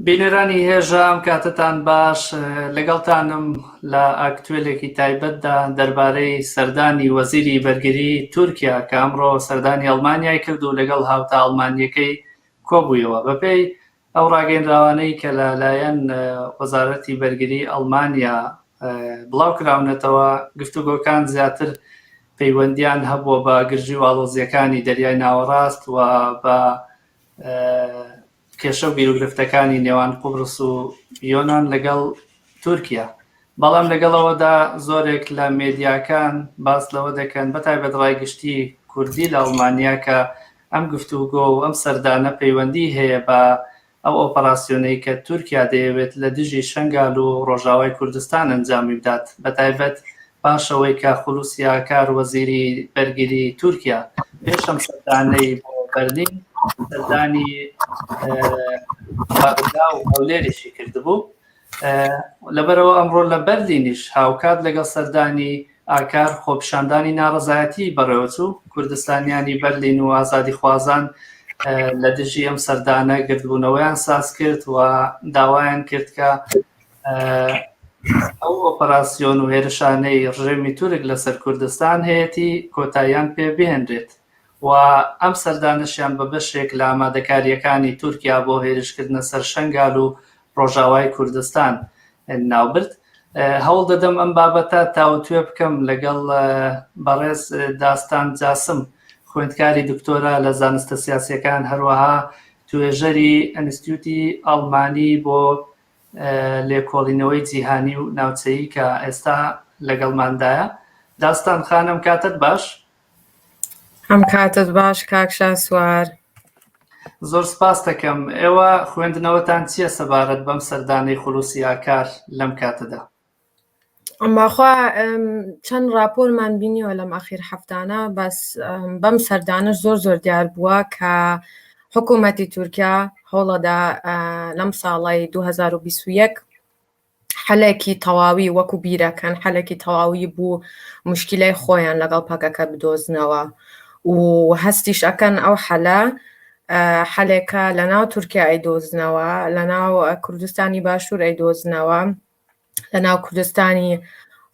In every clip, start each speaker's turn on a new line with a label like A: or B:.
A: بینەرانی هێژا ئەم کاتەتان باش لەگەڵتانم لە ئاکتوێلێکی تایبەتدا دەربارەی سەردانی وەزیری بەرگری تورکیا کە ئەمڕۆ سەردانی ئەڵمانیای کرد و لەگەڵ هاوتا ئەڵمانیەکەی کۆبوویەوە بەپێی ئەو ڕاگەیەنراوانەی کە لە لایەن وەزارەتی بەرگری ئەڵمانیا بڵاو کراونەتەوە، گفتوگۆکان زیاتر پەیوەندیان هەبووە بە گرژی و ئاڵۆزیەکانی دەریای ناوەڕاست و بە کێشە و گیروگرفتەکانی نێوان قوبرس و یۆنان لەگەڵ تورکیا. بەڵام لەگەڵ ئەوەدا زۆرێک لە مێدیاکان باس لەوە دەکەن بە تایبەت ڕای گشتی کوردی لە ئەڵمانیا کە ئەم گفتوگۆ و ئەم سەردانە پەیوەندی هەیە بە ئەو ئۆپەراسیۆنەی کە تورکیا دەیەوێت لە دژی شەنگال و ڕۆژاوای کوردستان ئەنجامی بدات بە تایبەت پاش ئەوەی کە خولوسی ئاکار وەزیری بەرگری تورکیا پێش ئەم سەردانەی بۆ بەرلین سەردانی بەغدا و هەولێریشی کردبوو. لەبەرئەوە ئەمڕۆ لە بەرلینیش هاوکات لەگەڵ سەردانی ئاکار خۆپیشاندانی ناڕەزایەتیی بەڕێوەچوو، کوردستانیانی بەرلین و ئازادیخوازان لە دژی ئەم سەردانە گردبوونەوەیان ساز کرد و داوایان کرد کە ئەو ئۆپەراسیۆن و هێرشانەی ڕژێمی تورک لەسەر کوردستان هەیەتی کۆتاییان پێ بهێنرێت. و ئەم سەردانەشیان بە بەشێک لە ئامادەکارییەکانی تورکیا بۆ هێرشکردنە سەر شەنگال و ڕۆژاوای کوردستان ناوبرد. هەوڵدەدەم ئەم بابەتە تاوتوێ بکەم لەگەڵ بەڕێز داستان جاسم خوێندکاری دکتۆرا لە زانستە سیاسیەکان هەروەها توێژەری ئەنستیوتی ئەڵمانی بۆ لێکۆڵینەوەی جیهانی و ناوچەیی کە ئێستا لەگەڵماندایە داستان خانم کاتت باش
B: هەم کاتت باش کاک شاسوار.
A: زۆر سپاستەکەم، ئێوە خوێندنەوەتان چییە سەبارەت بەم سەردانەی خولوسی ئاکار لەم کاتەدا؟
B: بەخوا چەند راپۆرمان بینیوە لەم ئاخیر هەفتانە بەس بەم سەردانش زۆر زۆر دیار بووە کە حکوومەتی تورکیا هەوڵەدا لەم ساڵی 2021 حەلەکی تەواوی وەکو بیرەکەن حەلەکی تەواوی بوو مشکیلای خۆیان لەگەڵ پەکەکە بدۆزنەوە و هەستیش ئەکەن ئەو حەلە حەلێکە لە ناو تورکیا ئەیدۆزنەوە لە ناو کوردستانی باشوور ئەیدۆزنەوە لە ناو کوردستانی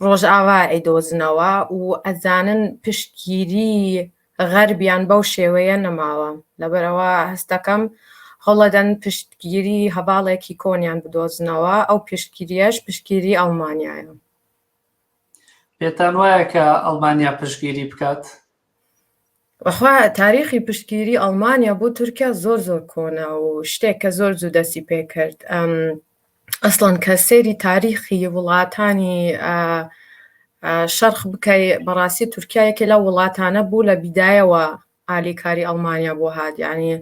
B: ڕۆژئاوا ئەیدۆزنەوە و ئەزانن پشتگیری غەربیان بەو شێوەیە نەماوە، لەبەرئەوە هەستدەکەم هەوڵەدەن پشتگیری هەڤاڵێکی کۆنیان بدۆزنەوە، ئەو پشتگیرییەش پشتگیری ئەڵمانیایە. پێتانوایە کە
A: ئەڵمانیا پشتگیری بکات؟
B: بەخوا تاریخی پشتگیری ئەڵمانیا بۆ تورکیا زۆر زۆر کۆنە و شتێک کە زۆر زوو دەستی پێکرد. ئەسڵەن کە سەیری تاریخی وڵاتانی شەرخ بکەی بەڕاستی تورکایەکە لە وڵاتانە بوو لە بیدایەوە ئالیکاری ئەڵمانیا بۆ هاات ینی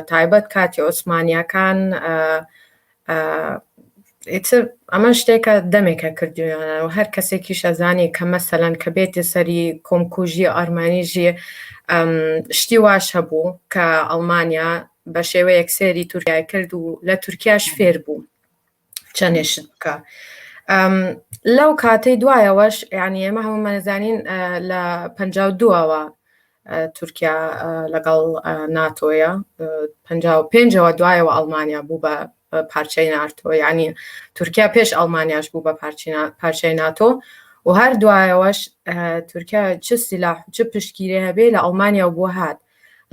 B: تایبەت کاتی ئۆسمانیەکان ئەمە شتێکە دەمێکە کردویانە و هەر کەسێکی شەزانانی کە مەسەلەن کە بێتی سەری کۆمکوژی ئارمانیژی شتی واش هەبوو کە ئەڵمانیا بە شێوەیەک سێری تورکای کرد و لە تورکیاش فێر بوو چەندێشت بکە لەو کاتەی دوایەوەش یعنی ئێمە هەمومانەزانین لە پ دووەوە تورکیا لەگەڵ ناتۆیە پ پێنجەوە دوایەوە ئەڵمانیا بوو بە پارچەی نارتۆ یعنی تورکیا پێش ئەڵمانیاش بوو بە پارچەی ناتۆ و هەر دوایەوەش تورکیا چ سیلاح چ پشتگیری هەبێ لە ئەڵمانیا بۆ هات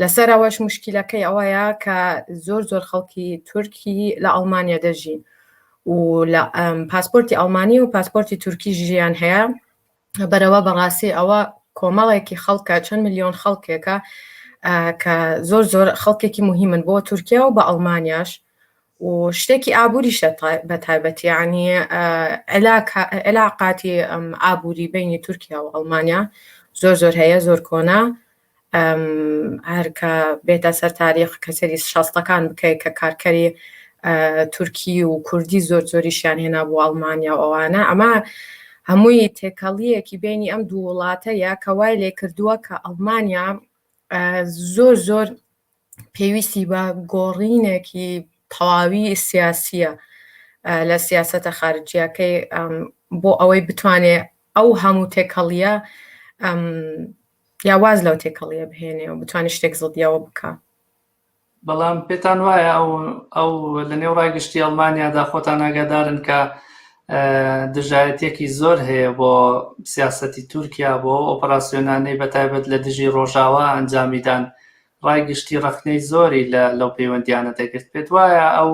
B: لەسەرەوەش مشکلەکەی ئەوەیە کە زۆر زۆر خەڵکی تورکی لە ئەڵمانیا دەژین و لە پاسپۆرتی ئەڵمانی و پاسپۆرتی تورکی ژیان هەیە بەرەوە بەڕاستی ئەوە کۆمەڵێکی خەڵکە چەند ملیۆن خەڵکێکە کە زۆر زۆر خەڵکێکی مهمن بۆ تورکیا و بە ئەڵمانیاش و شتێکی ئابووریش بە تایبەتیانی عێلاقاتی ئابووری بینی تورکیا و ئەڵمانیا زۆر زۆر هەیە زۆر کۆنا هەر کە بێتە سەر تاریخ کە سەری شەستەکان بکەیت کە کارکەری تورکی و کوردی زۆر زۆریشیان هێنا بۆ ئەڵمانیا و ئەوانە ئەمە هەمووی تێکەڵیەکی بینی ئەم دوو وڵاتە یا کە وای لێ کردووە کە ئەڵمانیا زۆر زۆر پێویستی بە گۆڕینێکی تەواوی سیاسیە لە سیاستە خارجیەکەی بۆ ئەوەی بتوانێت ئەو هەموو تێکەڵیە یا واز لەو تێکەڵیە بهێنێ و بتوانێت شتێک زڵدیەوە بکە. بەڵام
A: پێتان وایە ئەو ئەو لە نێو ڕای گشتی ئەڵمانیادا خۆتان ئاگادارن کە دژایەتێکی زۆر هەیە بۆ سیاستی تورکیا بۆ ئۆپەراسسیۆنانەی بە تایبەت لە دژی ڕۆژاوا ئەنجامیدان ڕای گشتی ڕخنەی زۆری لە لەو پەیوەندیانە دەگرت پێت وایە ئەو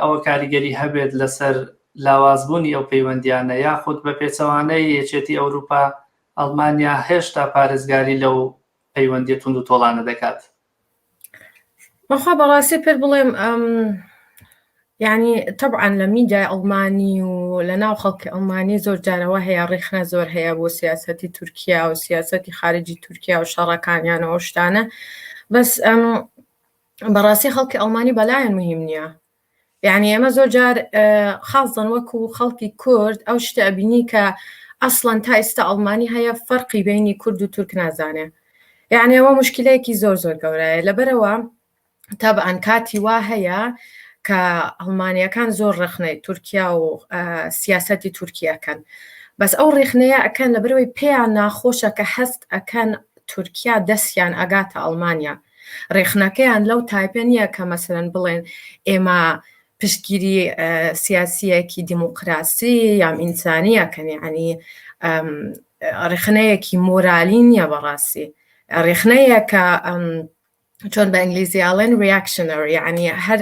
A: ئەوە کاریگەری هەبێت لەسەر لاوازبوونی ئەو پەیوەندیانە یاخود بە پێچەوانەی یەکێتی ئەوروپا ئەڵمانیا هێشتا پارێزگاری لەو پەیوەندیە توند و تۆڵانە دەکات
B: بەخوا بەڕاستی پێت بڵێم ئەم ینی تەبعاان لە میدای ئەڵمانی و لە ناو خەڵکی ئەڵمانی زۆر جارەوە هەیە ڕیخنە زۆر هەیە بۆ سیاستی تورکیا و سیاستی خارجی تورکیا و شەڕەکانیانەوە شتانە بەس ئەم بەڕاستی خەڵکی ئەڵمانی بەلایەن مهم نییە یانی ئێمە زۆر جار خاڵزن وەکو خەڵکی کورد ئەو شتە ئەبینی کە ئەسڵەن تا ئیستا ئەڵمانی هەیە فەرقی بینی کورد و تورک نازانێ یعنی ئەوە مشکلەیەکی زۆر زۆر گەورەیە لەبەرەوە تابعاان کاتی وا هەیە کە هەڵمانیەکان زۆر ڕخنەی تورکیا و سیاستی تورکیەکەن بەس ئەو ڕێخنەیە ئەکەن لە برەوەی پێیان ناخۆشە کە هەست ئەکەن تورکیا دەستیان ئەگاتە ئەڵمانیا ڕێخنەکەیان لەو تایپە نییە کە مەسەرەن بڵێن ئێمە پشتگیری سیاسیەکی دیموکراسی یام ئینسانیە کەنی عنی ڕێخنەیەکی مۆرالی نییە بەڕاستی ڕێخنەیە کە چۆن بە ئینگلیزی ئاڵێن ریاکشنەر یعنی هەر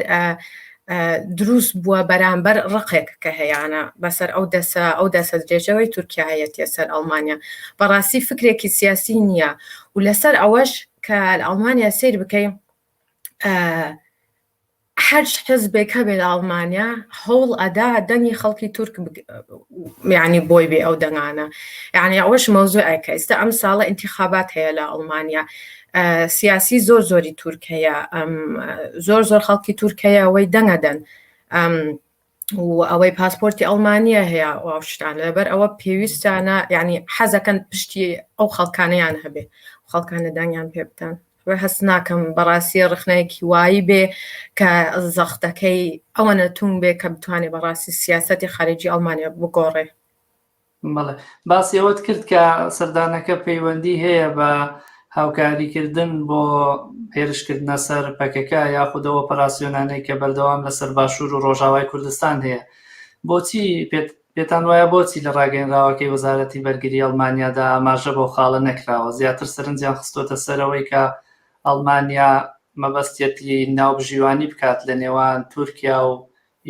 B: دروست بووە بەرامبەر ڕقێک کە هەیەە بەسەر ئەو دەسە ئەو دەسە درێژەوەی تورکایەتە سەر ئەڵمانیا بەڕاستی فکرێکی سیاسی نییە و لەسەر ئەوەش کە لە ئەڵمانیا سیر بکەین هەر حزبێک هەبێت لە ئەڵمانیا هەوڵ ئەدا دەنگی خەڵکی تورک میانی بۆی بێ ئەو دەنگانە یعنی ئەوەش مەوزوع ئەکە ئێستا ئەم ساڵە انتخابات هەیە لە ئەڵمانیا سیاسی زۆر زۆری تورکەیە زۆر زۆر خەڵکی تورکەیە ئەوەی دەنگەدەن و ئەوەی پاسپۆرتی ئەڵمانیا هەیە و ئەو شتانە لەبەر ئەوە پێویستانە یعنی حەزەکەن پشتی ئەو خەڵکانیان هەبێ خەڵکانە دانیان پێ بدەن وە هەست ناکەم بەڕاستی ڕخنەیەکی وایی بێ کە زەختەکەی ئەوەنە توون بێ کە بتوانێت بەڕاستی سیاستی خارجی ئەڵمانیا بگۆڕێ بەڵێ
A: باسی ئەوەت کرد کە سەردانەکە پەیوەندی هەیە بە هاوکاریکردن بۆ هێرشکردنە سەر پەکەکە یاخودەوە ئۆپەراسیۆنانەی کە بەردەوام لەسەر باشوور و ڕۆژاوای کوردستان هەیە بۆچی پێتان وایە بۆچی لە ڕاگەنراوەکەی وەزارەتی بەرگری ئەڵمانیادا ئاماژە بۆ خاڵە نەکراوە زیاتر سەرنجیان خستۆتە سەرەوەی کە ئەڵمانیا مەبەستێتی ناوبژیوانی بکات لە نێوان تورکیا و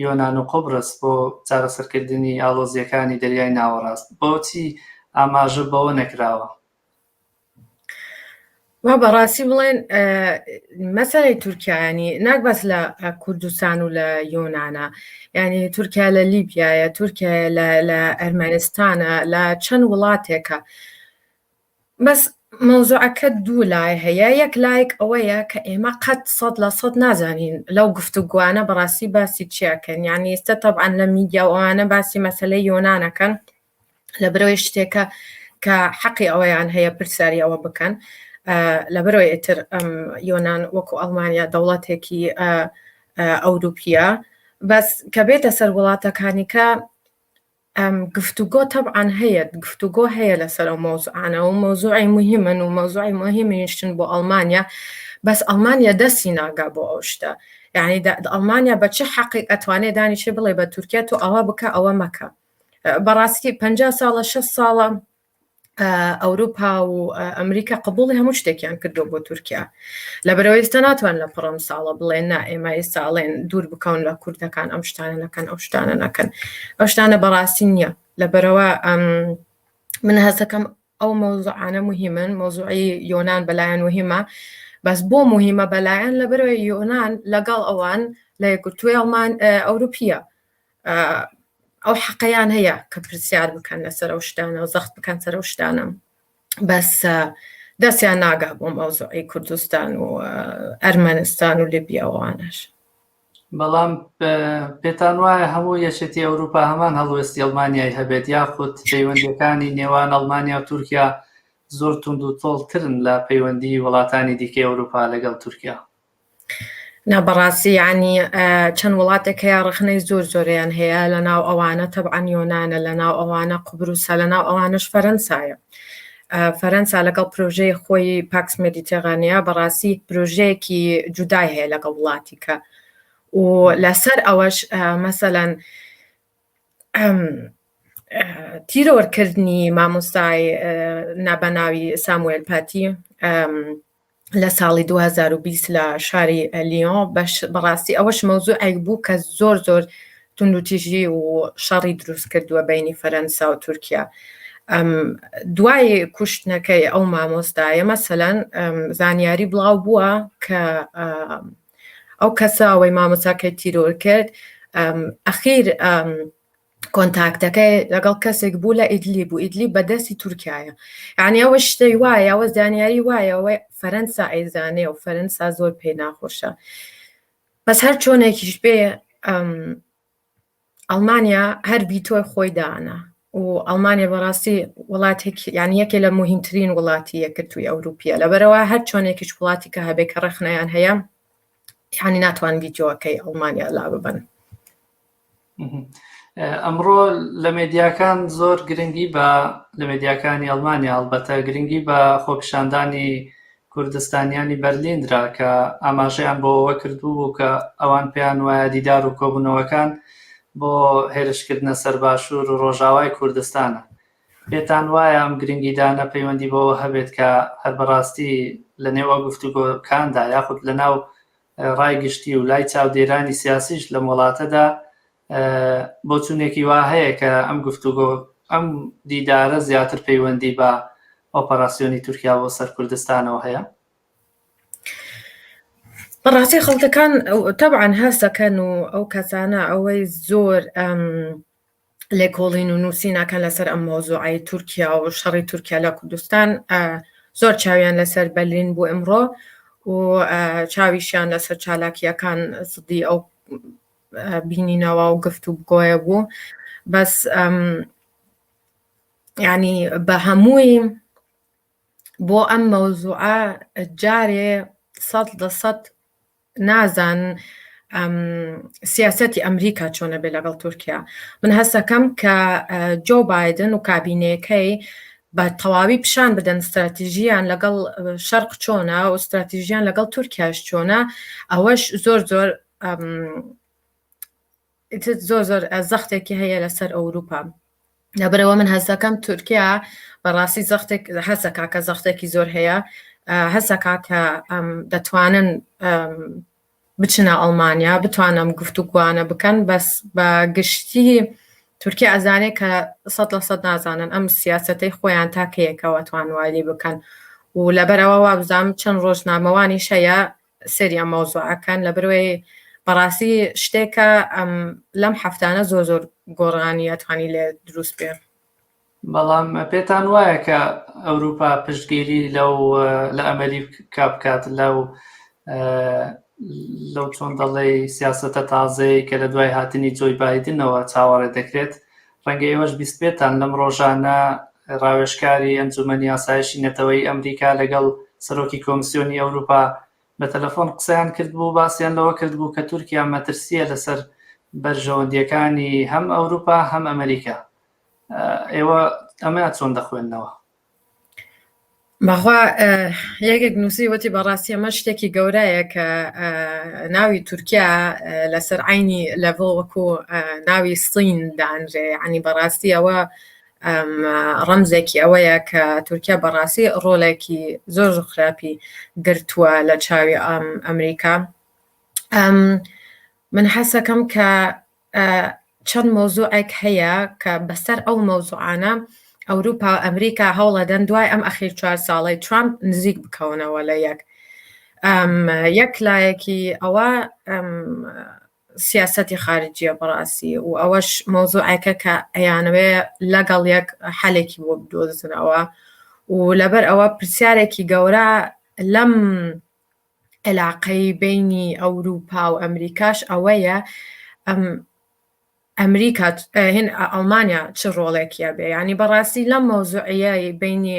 A: یۆنان و قوبرس بۆ چارەسەرکردنی ئاڵۆزییەکانی دەریای ناوەڕاست، بۆچی ئاماژە بەوە نەکراوە؟
B: وا بە ڕاستی بڵێن مەسەی تورکایانی ناک بەس لە کوردستان و لە یۆناە ینی تورکیا لە لیبیایە تورکیا لە ئەرمەنستانە لە چەند وڵاتێکە بەس مەوزوعەکە دوو لای هەیە یەک لایەک ئەوەیە کە ئێمە قەت سەد لە سەد نازانین لەو گفتوگۆانە بەڕاستی باسی چیاکەن یعنی ئێستا تەبعەن لە میدیا و ئەوانە باسی مەسەلەی یۆنانەکەن لە برەوەی شتێکە کە حەقی ئەوەیان هەیە پرسیاری ئەوە بکەن لەبەرەوەی ئتر یۆناان وەکو ئەڵمانیا دەوڵەتێکی ئەوروپیە بەس کە بێتە سەر وڵاتەکانیکە گفتوگۆ تەبعەن هەیە، گفتوگۆ هەیە لەسەر ئەو مەوزوعانە و مەوزوعی موهیمن و مەوزوعی موهیمنیشن بۆ ئەڵمانیا، بەس ئەڵمانیا دەستی ناگا بۆ ئەو شتە، یعنی ئەڵمانیا بە چ حەقێک ئەتوانێ دانیشێ بڵێ بە تورکیا تۆ ئەوە بکە ئەوە مەکە، بەڕاستی پەنجا ساڵە شەست ساڵە ئەوروپا و ئەمریکا قبوڵی هەموو شتێکیان کردو بۆ تورکیا لەبەرەوە ئێستا ناتوان لە پڕم ساڵە بڵێن نا ئێمە ئێستا ئەڵێن دوور بکەون لە کوردەکان ئەم شتانە نەکەن ئەو شتانە نەکەن ئەو شتانە بەڕاستی نییە لەبەرەوە ئەم من هەستەکەم ئەو مەوزوعانە مهمن مەوزوعی یۆناان بەلایەن وهمە بەس بۆ مهمە بەلایەن لەبەرەوە یۆناان لەگەڵ ئەوان لە یەکگرتووی ئەڵمان ئەوروپیە ئەو حەقەیان هەیە کە پرسیار بکەن لەسەر ئەو شتانە و زەخت بکەن سەر ئەو شتانە بەس دەستیان ناگا بۆ مەوزوعی کوردستان و ئەرمەنستان و لبیاوانش
A: بەڵام پێتان وایە هەموو یەکێتی ئەوروپا هەمان هەڵوێستی ئەڵمانیای هەبێت یاخود پەیوەندەکانی نێوان ئەڵمانیا و تورکیا زۆر تونند و تۆڵترن لە پەیوەندی وڵاتانی دیکەی ئەوروپا لەگەڵ تورکیا نا
B: بەڕاستی یانی چەند وڵاتێک هەیە ڕخنەی زۆر زۆریان هەیە لە ناو ئەوانە تەبعاان یۆناە لە ناو ئەوانە قوبروسە لە ناو ئەوانش فەرەنسایە فەرەنسا لەگەڵ پرۆژەی خۆی پاکس مدیتێغانەیە بەڕاستی پرۆژەیەکی جودای هەیە لەگەڵ وڵاتیکە و لەسەر ئەوەش مەسەەن تیرۆرکردنی مامۆستای نابەناوی ساموێل پاتی لە ساڵی 2020 لە شاری لیۆن بەش بەڕاستی ئەوەش مەوزوعێک بوو کە زۆر زۆر توندوتیژی و شەڕی دروست کردووە بینی فەرەنسا و تورکیا دوای کوشتنەکەی ئەو مامۆستایە مەسەەن زانیاری بڵاو بووە کە ئەو کەسە ئەوەی مامۆساکەی تیرۆر کرد ئەخیر کۆنتاکتەکەی لەگەڵ کەسێک بوو لە ئیدلی بوو ئیدلی بەدەستی تورکایە یعنی ئەوە شتەی وایە ئەوە زانیاری وایە ئەوەی فەرەنسا ئەیزانێ و فەرەنسا زۆر پێی ناخۆشە بەس هەر چۆنێکیش بێ ئەڵمانیا هەر ڤیتۆی خۆی دانا و ئەڵمانیا بەڕاستی وڵاتێک یان یەکێ لە مهمترین وڵاتی یەکرتووی ئەوروپیە لەبەرەوە هەر چۆنێکیش وڵاتی کە هەبێ کە ڕەخنەیان هەیە یانی ناتوان ڤیددیوەکەی ئەڵمانیا لا ببن.
A: ئەمڕۆ لە مێدیاکان زۆر گرنگی بە لە مێدیاکانی ئەڵمانیا هەڵبەتە گرنگی بە خۆپیشاندانی کوردستانیانی بەرلین درا کە ئاماژەیان بۆ ئەوە کردبوو کە ئەوان پێیان وایە دیدار و کۆبوونەوەکان بۆ هێرشکردنە سەر باشوور و ڕۆژاوای کوردستانە. پێتان وایە ئەم گرنگیدانە پەیوەندی بەوە هەبێت کە هەر بەڕاستی لە نێو ئەو گفتوگۆکاندا یاخود لە ناو ڕای گشتی و لای چاودێرانی سیاسیش لەم وڵاتەدا بۆچوونێکی وا هەیە کە ئەم گفتوگۆ ئەم دیدارە زیاتر پەیوەندی بە ئۆپەراسیۆنی تورکیا بۆ سەر کوردستانەوە هەیە
B: بەڕاستی خەڵکەکان تەبعاان هەستەکەن و ئەو کەسانە ئەوەی زۆر ئەم لێکۆڵین و نووسینەکان لەسەر ئەم مۆزوعی تورکیا و شەڕی تورکیا لە کوردستان زۆر چاویان لەسەر بەلین بوو ئەمڕۆ و چاویشیان لەسەر چالاکیەکان سدی ئەو بینینەوە و گفت و بگۆیە بوو بەس ینی بە هەمووی بۆ ئەم مەوزوعە جارێ سەد لە سەد نازان سیاستی ئەمریکا چۆنە بێ لەگەڵ تورکیا من هەستەکەم کە جۆ بادن و کابینەکەی بە تەواوی پیشان بدەن استراتیژیان لەگەڵ شەرق چۆنە و استراتیژیان لەگەڵ تورکیاش چۆنە ئەوەش زۆر زۆر زۆر زۆر زەختێکی هەیە لەسەر ئەوروپا لەبەرەوە من هەستەکەم تورکیا بەڕاستی زەختێک هەسەکە کە زەختێکی زۆر هەیە هەسەکە کە دەتوانن بچنە ئەڵمانیا بتوانم گفتوگوانە بکەن بەس بە گشتی تورکیا ئەزانێ کە سە لە سە نازانن ئەم سیاستەی خۆیان تاکەیەکەوە توانوایلی بکەن و لەبەرەوە وابزانام چەند ڕۆژنامەوانی شەیە سەری ئەم مەوزوعەکەن لەبروێ بەڕاستی شتێکە ئەم لەم هەفتانە زۆر زۆر گۆڕانی ئەتوانی لێ دروست بێ بەڵام
A: پێتان وایە کە ئەوروپا پشتگیری لەو لە ئەمەری کا بکات لەو لەو چۆن دەڵێ سیاستە تازەی کە لە دوای هاتنی جۆی بادنەوە چاوەڕێ دەکرێت ڕەنگە ئێوەش بیستبێتان لەم ڕۆژانە ڕاوێژکاری ئەنجومەنی ئاسایشی نەتەوەیی ئەمریکا لەگەڵ سەرۆکی کۆمسیۆنی ئەوروپا بە تەلەفۆن قسەیان کردبوو باسیان لەوە کردبوو کە تورکیا مەترسییە لەسەر بەرژەوەندییەکانی هەم ئەوروپا هەم ئەمریکا ئێوە ئەمە چۆن دەخوێننەوە؟ بەخوا
B: یەکێک نووسی وەتی بەڕاستی ئەمە شتێکی گەورەیە کە ناوی تورکیا لەسەر عینی لەڤۆ وەکو ناوی سین دانرێ عنی بەڕاستی ئەوە ڕەمزێکی ئەوەیە کە تورکیا بەڕاستی ڕۆلێکی زۆر خراپی گرتووە لە چاوی ئەم ئەمریکا من حەسەکەم کە چەند مەوزوعێک هەیە کە بەسەر ئەو مەوزوعانە ئەوروپا و ئەمریکا هەوڵەدەن دوای ئەم ئەخیر چوار ساڵی ترامپ نزیک بکەونەوە لە یەک یەک لایەکی ئەوە سیاستی خارجیە بەڕاستی و ئەوەش مۆزوعەکە کە ئەیانوێ لەگەڵ یەک حالێکی بۆ بدۆزنەوە و لەبەر ئەوە پرسیارێکی گەورە لەم علاقەی بینی ئەوروپا و ئەمریکاش ئەوەیە ئەم ئەمریکا هێن ئەڵمانیا چ ڕۆڵێکیە بێ ینی بەڕاستی لەم مەوزوعە بینی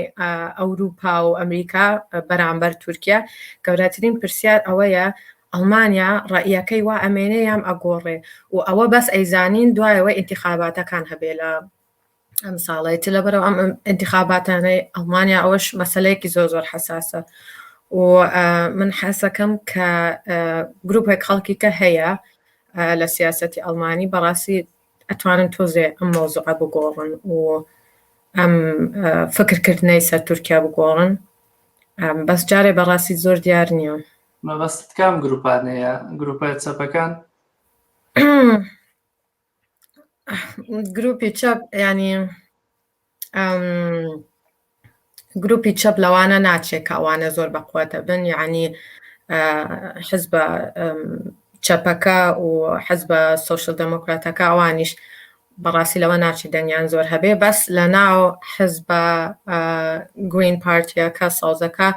B: ئەوروپا و ئەمریکا بەرامبەر تورکیا گەورەترین پرسیار ئەوەیە ئەڵمانیا ڕئیەکەی وا ئەمێنێ یام ئەگۆڕێ و ئەوە بەس ئەیزانین دوایەوە ئینتیخاباتەکان هەبێ لە ئەمساڵەی تر لەبەرەوە ئەم ئینتیخاباتانەی ئەڵمانیا ئەوەش مەسلەیەکی زۆر زۆر حساسە و من حەسەکەم کە گروپێک خەڵکی کە هەیە لە سیاستی ئەڵمانی بەڕاستی ئەتوانن تۆزێ ئەم مۆزوع بگۆڕن و ئەم فکرکردنەی سەر تورکیا بگۆڕن بەس جارێ بەڕاستی زۆر دیار نییە مەبەست کام
A: گروپانەیە گروپە چەپەکان
B: گروپی چەپ ینی گروپی چەپ لەوانە ناچێت کاوانە زۆر بەقوەتە بن یعنی حز بە چەپەکە و حەز بە سوۆشل دەموکراتەکە ئەوانیش بەڕاستی لەوە ناچی دەنگیان زۆر هەبێ بەس لە ناو حز بە گرین پارتیەکە سازەکە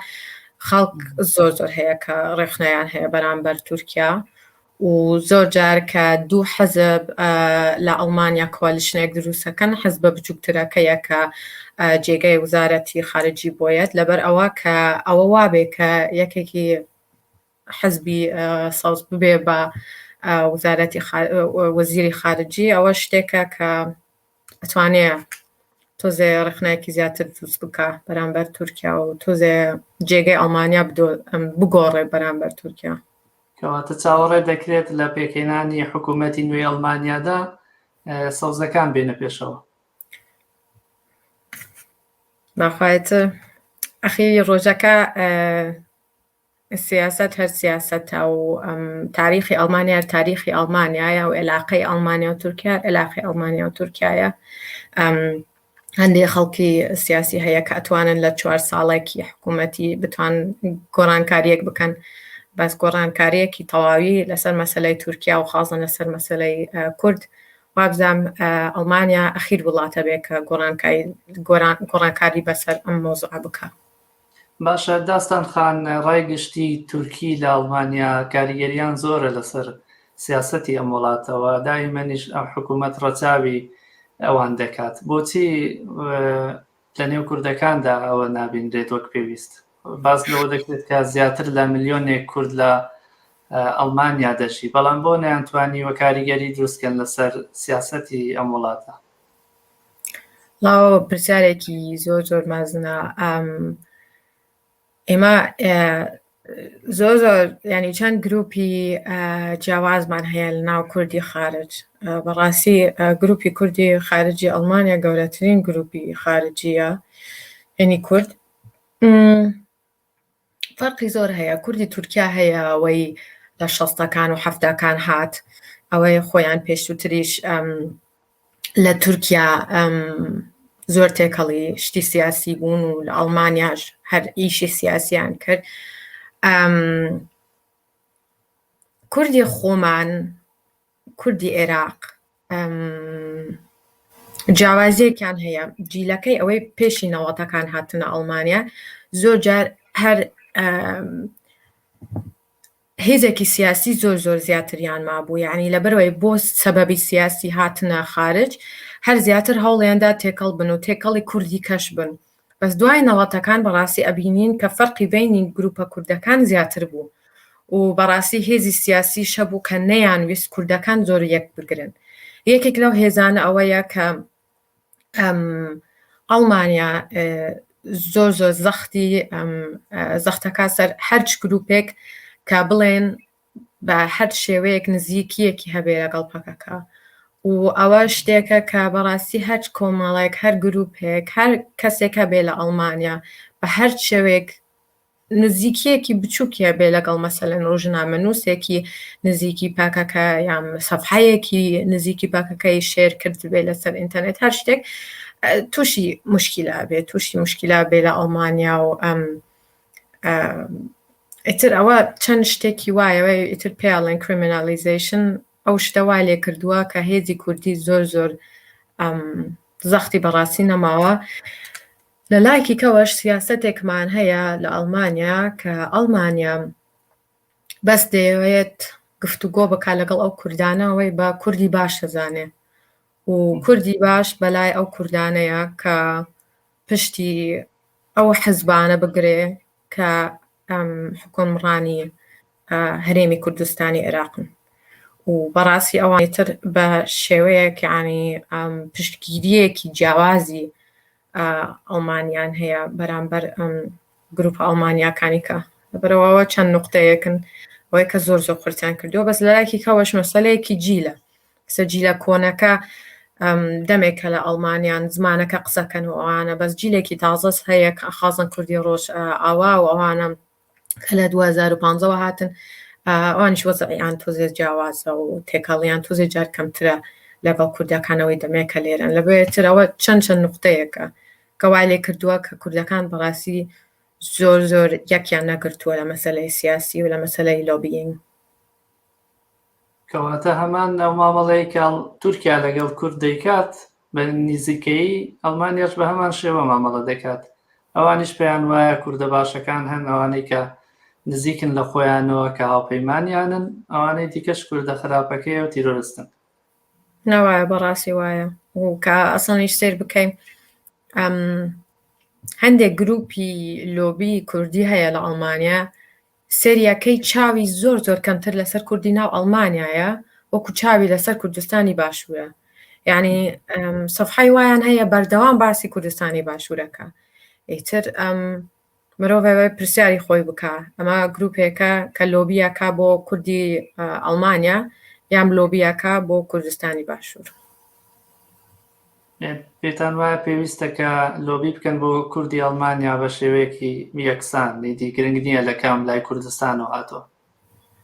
B: خەڵک زۆر زۆر هەیە کە ڕێخنەیان هەیە بەرامبەر تورکیا و زۆر جار کە دوو حزب لە ئەڵمانیا کوالیشنێک دروستەکەن حزبە بچووکترەکەیە کە جێگای وزارەتی خارجی بۆیەت لەبەر ئەوە کە ئەوە وابێ کە یەکێکی حزبی سەوز ببێ بە وزارەتی وەزیری خارجی ئەوە شتێکە کە ئەتوانێ تۆزێ ڕخنایکی زیاتر دروست بکە بەرامبەر تورکیا و تۆزێ جێگەی ئەڵمانیا بگۆڕێ بەرامبەر تورکیا کەواتە
A: چاوەڕێ دەکرێت لە پێکهێنانی حکوومەتی نوێی ئەڵمانیادا سەوزەکان بێنە پێشەوە
B: ناخایەتە ئەخی ڕۆژەکە سیاسەت هەر سیاسەتە و تاریخی ئەڵمانیا هەر تاریخی ئەڵمانیایە و عێلاقەی ئەڵمانیا و تورکیا عێلاقی ئەڵمانیا و تورکایە هەندێک خەڵکی سیاسی هەیە کە ئەتوانن لە چوار ساڵێکی حکوومەتی بتوان گۆڕانکاریەک بکەن بەس گۆڕانکاریەکی تەواوی لەسەر مەسلەی تورکیا و خازن لەسەر مەسلەی کورد وابزانام ئەڵمانیا ئەخیر وڵاتە بێ کە گۆڕانکاری بەسەر ئەم مۆزوع بکە. باشە
A: داستان خان ڕای گشتی تورکی لە ئەڵمانیا کاریگەریان زۆرە لەسەر سیاسەتی ئەم وڵاتە وە دایمەنیش ئەم حکوومەت ڕەچاوی ئەوان دەکات بۆچی لە نێو کوردەکاندا ئەوە نابینرێت وەک پێویست باس لەوە دەکرێت کە زیاتر لە ملیۆنێک کورد لە ئەڵمانیا دەژی بەڵام بۆ نەیانتوانی وە کاریگەری دروستکەن لەسەر سیاسەتی ئەم وڵاتە
B: سڵاو پرسیارێکی زۆر زۆر مەزنە ئێمە زۆر زۆر ینی چەند گروپی جیاوازمان هەیە لە ناو کوردی خارج بەڕاستی گروپی کوردی خارجی ئەڵمانیا گەورەترین گروپی خارجیە هەنی کورد فەرقی زۆر هەیە کوردی تورکیا هەیە ئەوەی لە شەستەکان و حەفتاکان هات ئەوەی خۆیان پێشووتریش لە تورکیا زۆر تێکەڵی شتی سیاسی بوون و لە ئەڵمانیاش هەر ئیشی سیاسیان کرد کوردی خۆمان کوردی ئێراق جیاوازیەکیان هەیە جیلەکەی ئەوەی پێشی نەوەتەکان هاتنە ئەڵمانیا زۆر جار هەر هێزێکی سیاسی زۆر زۆر زیاتریان مابوو یعنی لەبەرەوەی بۆ سەبەبی سیاسی هاتنە خارج هەر زیاتر هەوڵێندا تێکەڵ بن و تێکەڵی کوردی کەش بن بەس دوای نەوەتەکان بەڕاستی ئەبینین کە فەرقی بەینی گروپە کوردەکان زیاتر بوو و بەڕاستی هێزی سیاسیش هەبوو کە نەیانویست کوردەکان زۆر یەک بگرن یەکێک لەو هێزانە ئەوەیە کە ئەم ئەڵمانیا زۆر زۆر زەختی زەختەکە سەر هەرچ گروپێک کە بڵێن بە هەر شێوەیەک نزیکییەکی هەبێ لەگەڵ پەکەکە و ئەوە شتێکە کە بەڕاستی هەر کۆمەڵێک هەر گروپێک هەر کەسێک هەبێ لە ئەڵمانیا بە هەر شێوەیەک نزیکیەکی بچووکیە بێ لەگەڵ مەسەلەن ڕژنامە نووسێکی نزیکی پاکەکە یان سەفحەیەکی نزیکی پاکەکەی شێر کرد بێ لەسەر ئینتەرنێت هەر شتێک تووشی مشکیلا بێ تووشی مشکیلا بێ لە ئەڵمانیا و ئەم ئیتر ئەوە چەند شتێکی وایەوە ئیتر پێڵێن کریمینالیزیشن ئەو شتە وا لێ کردووە کە هێزی کوردی زۆر زۆر زەختی بەڕاستی نەماوە لە لایکی کەەوەش سیاستێکمان هەیە لە ئەڵمانیا کە ئەڵمانیا بەس دەیەوێت گفتوگۆ بک لەگەڵ ئەو کوردانەوەی بە کوردی باش دەزانێ و کوردی باش بەلای ئەو کوردانەیە کە پشتی ئەو حزبانە بگرێ کە حکۆمڕانی هەرێمی کوردستانی عێراقن و بەڕاستی ئەوانی تر بە شێوەیەکانی پشتگیریەکی جیاوازی ئەڵمانیان هەیە بەرامبەر گروپە ئەڵمانیاکانی کە لەبەرەوەەوە چەند نقطەیەکن ئەوەی کە زۆر زۆر قرتیان کردو بەس لەلایکی کەەوەش مەسلەیەکی جیلە کچە جیلە کۆنەکە دەمێکە لە ئەڵمانیان زمانەکە قسەکەن و ئەوانە بەس جیلێکی تازەس هەیە خازن کوردی ڕۆژ ئاوا و ئەوانە کە لە 2015ەوە هاتن ئەوانیش وەزعیان تۆزێ جیاوازە و تێکەڵیان تۆزێ جار کەمترە لەگەڵ کوردەکانەوەی دەمێکە لێرن لە بێترەوە چەند چەند نقطەیەکە کەوای لێ کردووە کە کوردەکان بەڕاستی زۆر زۆر یەکیان نەگرتووە لە مەسلەی سیاسی و لە مەسلەی لۆبیینگ
A: کەواتە هەمان ئەو مامەڵەی کە تورکیا لەگەڵ کورد دەیکات بە نزیکەی ئەڵمانیاش بە هەمان شێوە مامەڵە دەکات ئەوانیش پێیان وایە کوردە باشەکان هەن ئەوانەی کە نزیکن لە خۆیانەوە کە هاوپەیمانیانن ئەوانەی دیکەش کوردە خراپەکەی و تیرۆرستن ناوایە
B: بەڕاستی وایە و کە ئەسڵنیش سێر بکەین هەندێک گروپی لۆبی کوردی هەیە لە ئەڵمانیا سێریا کەی چاوی زۆر زۆر کەمتر لەسەر کوردی ناو ئەڵمانیایە وەکو چاوی لەسەر کوردستانی باشورە یعنی سەفحی وایان هەیە بەردەوام باسی کوردستانی باشورەکە ئیتر ئەم مرۆڤەوەی پرسیاری خۆی بکە ئەمە گرروپێکە کە لۆبیەکە بۆ کوردی ئەلمانیا یام لۆبیەکە بۆ کوردستانی باشوور
A: پێتان وایە پێویستە کە لۆبی بکەن بۆ کوردی ئەڵمانیا بە شێوەیەکی یەکسان ئیدی گرنگ نییە لە کام لای کوردستانەوە هاتووە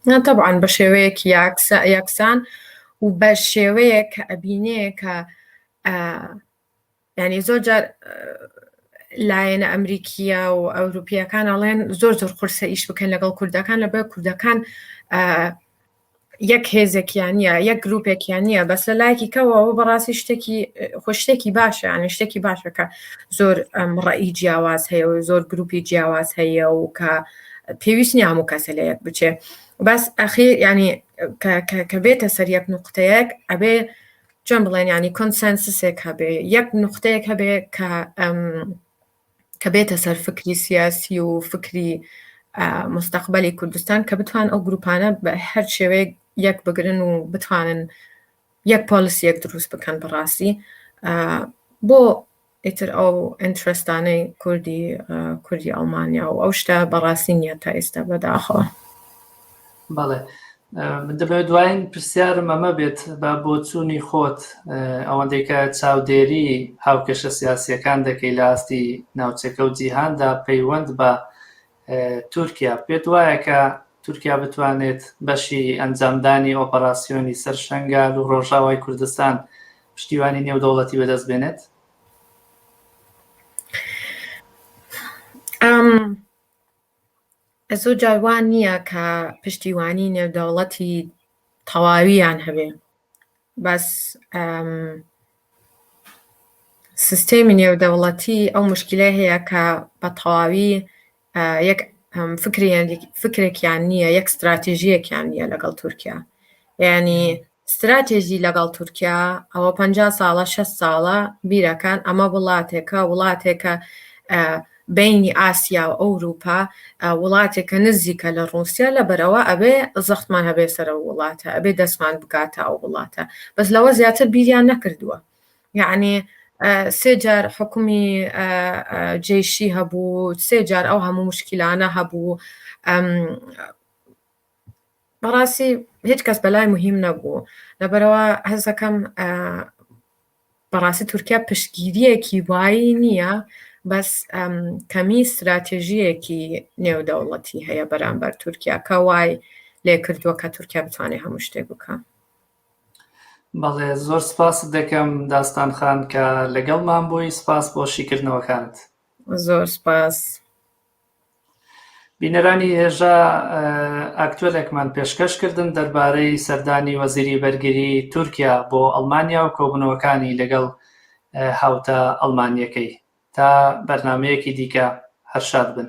A: نا طبعا
B: بە شێوەیەک یاکسا یەکسان و بە شێوەیەک کە ئەبینێ کە ئا، یعنی زۆر جار ئا، لایەنە ئەمریکیە و ئەوروپیەکان ئەڵێن زۆر زۆر قورسە ئیش بکەن لەگەڵ کوردەکان لەبەر کوردەکان ئا، یەک هێزێکیانە یەک گرروپێکیانە بەس لە لایەکی کەەوەەوە بەڕاستی شتێکی خۆشتێکی باشە یانە شتێکی باشە کە زۆر ڕئی جیاواز هەیە و زۆر گروپی جیاواز هەیە و کە پێویست نیام و کەسە لە یەک بچێ بەس ئەخیر ینی کە بێتە سەر یەک نقطەیەک ئەبێ چۆن بڵێن ینی کۆنسەنسسێک هەبێ یەک نقطەیەک هەبێ کە کە بێتە سەر فکری سیاسی و فکری مستەقبەلی کوردستان کە بتوان ئەو گروپانە بە هەر شێوەیەک یەک بگرن و بتوانن یەک پۆلیسی یەک دروست بکەن بەڕاستی بۆ ئیتر ئەو ئەنترستانەی کوردی کوردی ئەڵمانیا و ئەو شتە بەڕاستی نیە تا ئێستا بەداخەوە
A: بەڵێ من دەبێت دوایین پرسیارم ئەمە بێت بە بۆچوونی خۆت ئەوەندەی کە چاودێری هاوکێشە سیاسیەکان دەکەی لە ئاستی ناوچەکە و جیهاندا پەیوەند بە تورکیا پێت وایە کە تورکیا بتوانێت بەشی ئەنجامدانی ئۆپەراسسیۆنی سەر شنگال و ڕۆژاوای کوردستان پشتیوانی نێودەوڵەتی بەدەست بێنێت
B: ئەم زۆر جار وا نییە کە پشتیوانی نێودەوڵەتی تەواویان هەبێ بەس سیستێمی نێودەوڵەتی ئەو مشکلە هەیە کە بە تەواوی یەک فکرێکیان نییە یەک استراتیژیەکیان نییە لەگەڵ تورکیا ینی ستراتێژی لەگەڵ تورکیا ئەوە پەنجا ساڵە شەست ساڵە بیرەکان ئەمە وڵاتێکە وڵاتێکە بینی ئاسیا و ئەوروپا وڵاتێکە نزیکە لە ڕوسیا لە بەرەوە ئەبێ زەختمان هەبێ سەرە وڵاتە ئەبێ دەستمان بگاتە ئەو وڵاتە بەس لەوە زیاتر بیریان نەکردووە یعنی سێجار حکومی جێشی هەبوو سێجار ئەو هەموو مشکیلانە هەبوو بەڕاستی هیچ کەس بەلای مهم نەبوو لەبەرەوە هەستەکەم بەڕاستی تورکیا پشتگیریەکی وایی نییە بەس کەمی استراتێژیەکی نێودەوڵەتی هەیە بەرامبەر تورکیا کە وای لێ کردووە کە تورکیا بتوانێت هەموو شتێک بکە
A: بەڵێ زۆر سپاس دەکەم داستان خان کە لەگەڵمان بووی سپاس بۆ شیکردنەوەکانت زۆر
B: سپاس.
A: بینەرانی هێژا ئاکتوێلێکمان پێشکەش کردن دەربارەی سەردانی وەزیری بەرگری تورکیا بۆ ئەڵمانیا و کۆبنەوەکانی لەگەڵ هاوتا ئەڵمانیەکەی تا بەرنمەیەکی دیکە هەرشاد بن.